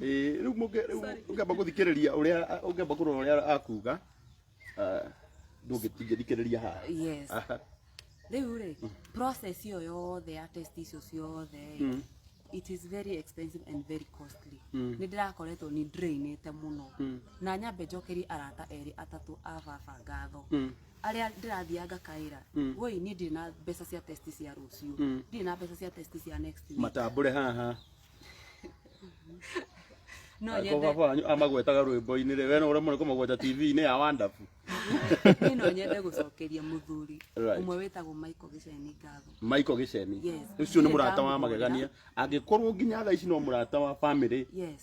Ĩĩ, rĩu mũngĩ- rĩu Sorry. ũngĩamba gũthikĩrĩria ũrĩa ũngĩamba kũrora ũrĩa akuga ah, ndũngĩ- ndingĩthikĩrĩria haha yes Aha. rĩu rĩ process iyo yothe ya test icio ciothe Mm. it is very expensive and very costly Mm. nä ndä rakoretwo nä drain te må no Mm. na nyambe njokerie arata erä atatå a baba ngatho Mm. arä a ndä rathiaga ngakaä ra Mm. woi niä ndirä na mbeca cia test cia rå ciå Mm. ndirä na mbeca cia test cia next week matambũre haha no Angĩkorwo nyende baba wanyu amagwetaga rwĩmbo-inĩ rĩ, we no ũremwo nĩ kũmagweta TV-inĩ ya Wonderful. niĩ no nyende gũcokeria mũthuri Right. ũmwe wĩtagwo Michael Gĩceni ngatho Michael Gĩceni. Yes. Ũcio nĩ mũrata wa magegania. Angĩkorwo nginya thaa ici no mũrata wa family. yes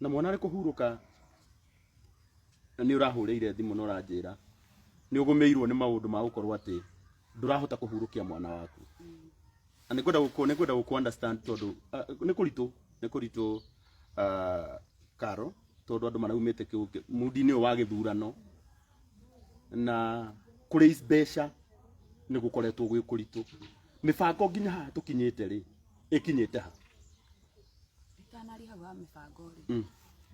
na mwana arĩ kũhurũka na nĩ ũrahũrĩire thimũ na ũranjĩra nĩ ũgũmĩirwo nĩ maũndũ ma gũkorwo atĩ ndũrahota kũhurũkia mwana waku na nĩ kwenda gũkũ nĩ kwenda gũkũ understand tondũ ah, nĩ kũritũ nĩ kũritũ ah, karo tondũ andũ maraumĩte kĩu- mudi-inĩ ũyũ wa gĩthurano na kũrĩ mbeca nĩ gũkoretwo gwĩ kũritũ mĩbango nginya haha tũkinyĩte rĩ ĩkinyĩte ha Itanari hau ha mĩbango rĩ, Mm.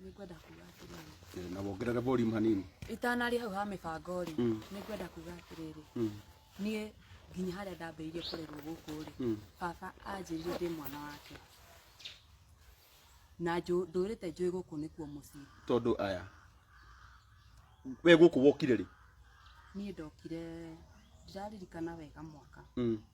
nĩ ngwenda kuga atĩrĩrĩ. Eh, na wongerere volume hanini Itanari hau ha mĩbango rĩ, Mm. nĩ ngwenda kuga atĩrĩrĩ. Mm. Niĩ nginya harĩa ndambĩrĩirie kũrerwo gũkũ rĩ, Mm. baba anjĩrire ndĩ mwana wake. Na njũ- ndũrĩte njũĩ gũkũ nĩkuo mũciĩ. tondũ aya we gũkũ wokire rĩ Niĩ ndokire ndiraririkana wega mwaka. Mm.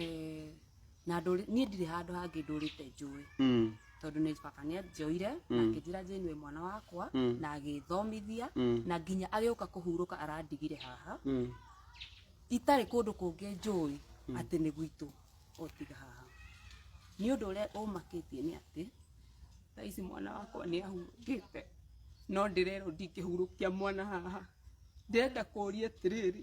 Eh, na ndũrĩ- niĩ ndirĩ handũ hangĩ ndũrĩte njũĩ Mm. tondũ nĩ baba nĩ anjoire na Mm. akĩnjĩra njĩnue mwana wakwa Mm. na agĩthomithia Mm. na nginya agĩũka kũhurũka arandigire haha Mm. itarĩ kũndũ kũngĩ njũĩ atĩ nĩ gwitũ otiga haha nĩ ũndũ ũrĩa ũmakĩtie nĩ atĩ thaa ici mwana wakwa nĩ ahurũkĩte no ndĩrerwo ndingĩhurũkia mwana haha ndĩrenda kũria atĩrĩrĩ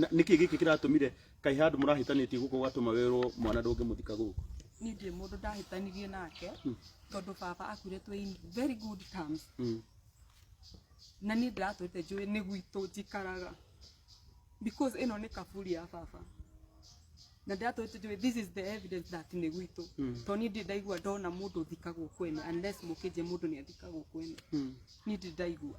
Na- nĩ kĩĩ gĩkĩ kĩratũmire kaĩ handũ mũrahĩtanĩtie gũkũ ũgatũma werwo mwana ndũngĩmũthika gũkũ niĩ ndirĩ mũndũ ndahĩtanirie nake tondũ baba akuire twĩ in very good terms Mm. na niĩ ndiratwĩte njũĩ nĩ gwitũ njikaraga because ĩno nĩ kaburi ya baba na ndiratwĩte njũĩ this is the evidence that nĩ gwitũ Mm. tondũ niĩ ndirĩ ndaigua ndona mũndũ ũthikagwo kwene unless mũkĩnje mũndũ nĩ athikagwo kwene Mm. niĩ ndirĩ ndaigua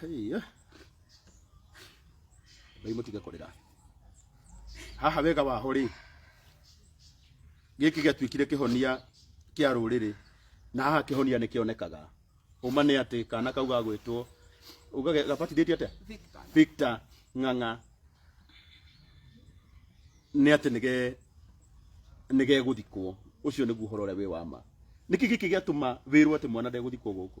Hei, eh. Ngai mũtige kũrĩra haha wega waho rĩ gĩkĩ gĩatuĩkire kĩhonia kĩa rũrĩrĩ na haha kĩhonia nĩ kĩonekaga ũma nĩ atĩ kana kau gagwĩtwo ugage- gabatithĩtio atĩa Victor. Victor Ng'ang'a nĩ atĩ nĩge nĩgegũthikwo ũcio nĩguo ũhoro ũrĩa wĩ wa ma nĩkĩ gĩkĩ gĩatũma wĩrwo atĩ mwana ndegũthikwo gũkũ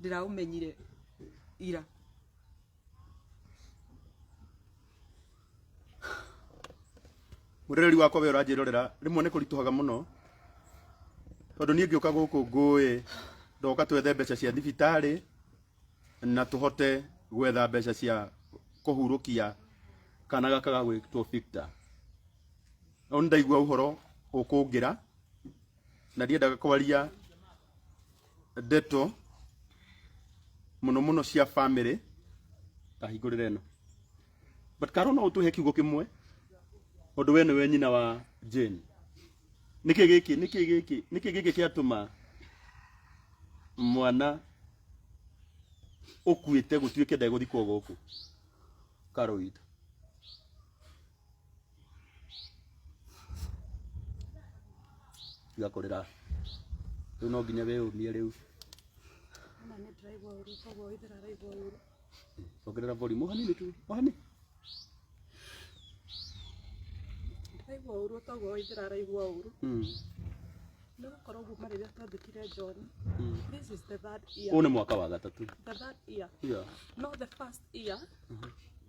ndĩraũmenyire ira murereri wakwa we uranjirorera rimwe ni kurituhaga muno tondu nie ngiuka guku ngui ndoka twethe mbeca cia thibitari na tuhote gwetha mbeca cia kuhurukia kana gaka ga gwitwo Victor no ndaigua uhoro ukungira na ndiendaga kwaria ndeto muno muno cia family ta hingurire no but karo no utuhe kiugo kimwe undu we niwe nyina wa Jane niki giki niki giki niki giki kiatuma mwana ukuite gutuike ndegũthikwo gũkũ karo itũ tiga kũrĩra rĩu no nginya wĩyũmie rĩu Ona nĩ ndĩraigua ũru koguo wĩthĩra araigua ũru ongerera volume ohanini tu ohani ndĩraigua ũru toguo wĩthĩra araigua ũru Mm, nĩ gũkorwo kuma rĩrĩa twandĩkire John mm. this is the third year ũyũ nĩ mwaka wa gatatũ the third year yeah. no the first year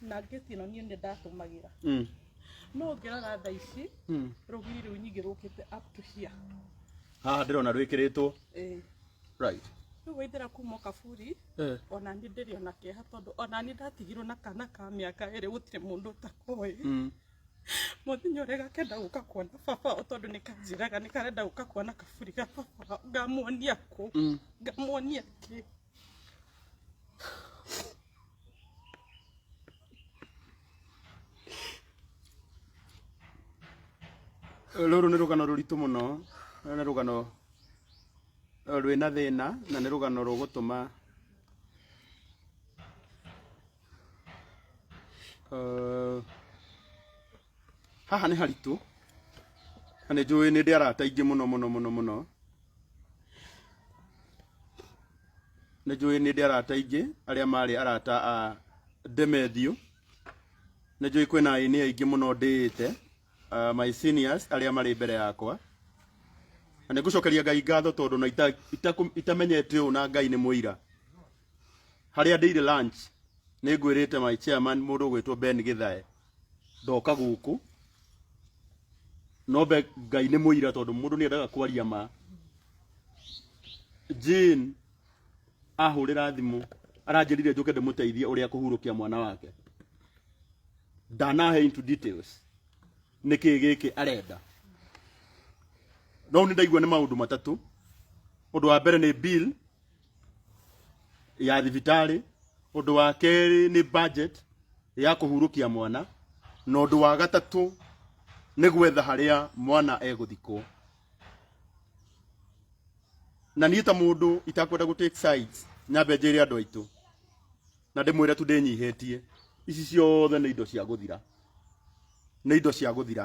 na ngĩti ĩno niĩ nĩ ndatũmagĩra Mm. no ngĩrora tha ici Mm. rũgiri rũu nyingĩ rũkĩte up to here haha ndĩrona rwĩkĩrĩtwo Eh, right rĩu waithĩra kuma kaburi Eh. ona niĩ ndĩrĩ ona kĩeha tondũ ona niĩ ndatigirwo na kana ka mĩaka ĩrĩ gũtirĩ mũndũ ũtakoĩ Mm. mũthenya ũrĩa gakenda gũka kuona baba o tondũ nĩ kanjĩraga nĩ karenda gũka kuona kaburi ga baba ngamuonia kũ Mm. ngamuonia kĩ rũrũ nĩ rũgano rũritũ mũno na nĩ rũgano eh, rwĩna thĩna na nĩ rũgano rũgũtũma eh, haha nĩ haritũ na nĩ njũĩ nĩ ndĩ arata aingĩ mũno mũno mũno mũno nĩ njũĩ nĩ ndĩ arata aingĩ arĩa marĩ arata a Demethiũ nĩ njũĩ kwĩna aini aingĩ mũno ndĩĩte uh, my seniors arĩa marĩ mbere yakwa na nĩ ngũcokeria Ngai ngatho tondũ na ita- itaku- itamenyete ũũ na Ngai nĩ mũira harĩa ndĩire lunch nĩ ngwĩrĩte my chairman mũndũ ũgwĩtwo Ben Githae ndoka gũkũ nombe ngai nĩ mũira tondũ mũndũ nĩ endaga kwaria ma Jane ahũrĩra thimũ aranjĩrire njũke ndĩmũteithie ũrĩa kũhurũkia mwana wake ndanahe into details nĩkĩ gĩkĩ arenda no nĩ ndaigua nĩ maũndũ matatũ ũndũ wa mbere nĩ bill ya thibitarĩ ũndũ wa kerĩ nĩ budget ya kũhurũkia mwana na ũndũ wa gatatũ nĩ gwetha harĩa mwana egũthikwo na niĩ ta mũndũ itakwenda gũ take sides nyambe njĩre andũ aitũ na ndĩmwĩre tu ndĩnyihĩtie ici ciothe nĩ indo cia gũthira nĩ indo cia gũthira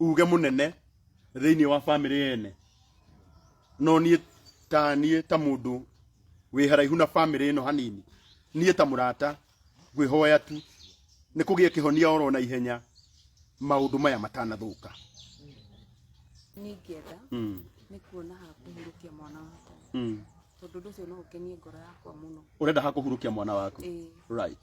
uge mũnene thĩinĩ wa bamĩrĩ yene no niĩ ta niĩ ta mũndũ wĩ haraihu na bamĩrĩ ĩno hanini niĩ ta mũrata ngwĩhoya tu nĩ kũgĩe kĩhonia oro na ihenya maũndũ maya matanathũka niĩ ingĩenda mm. nĩ kuona ha kũhurũkia mwana wakwa mm. tondũ ũndũ ũcio no ũkenie ngoro yakwa mũno ũrenda ha kũhurũkia mwana waku ĩĩ right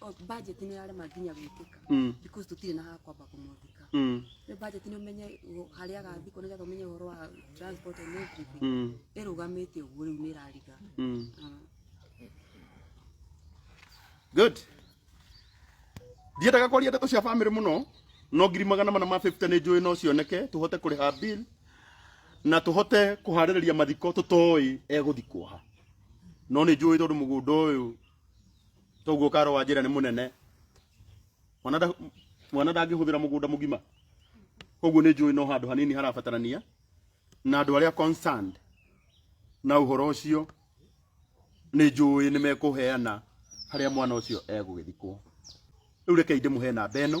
o- budget nĩ yarema nginya gwĩkĩka Mm. because tũtirĩ na ha kwamba kũmwandĩka Mm. rĩu budget nĩ ũmenye ũ- harĩa agathiĩ kũ nĩgetha ũmenye ũhoro wa transport and everything Mm. ĩrũgamĩte ũguo rĩu nĩ ĩrariga Mm. Ah. good ndiendaga kwaria ndeto cia bamĩrĩ mũno no ngiri magana mana ma 50 nĩ njũĩ no cioneke tũhote kũrĩha bill na tũhote kũharĩrĩria mathiko tũtoĩ egũthikwo ha no nĩ njũĩ tondũ mũgũnda ũyũ toguo karo wa njĩra nĩ mũnene mwana nda- mwana ndangĩhũthĩra mũgũnda mũgima koguo nĩ njũĩ no handũ hanini harabatarania na andũ arĩa concerned na ũhoro ũcio nĩ njũĩ nĩ mekũheana harĩa mwana ũcio egũgĩthikwo rĩu rekei ndĩmũhe namba ĩno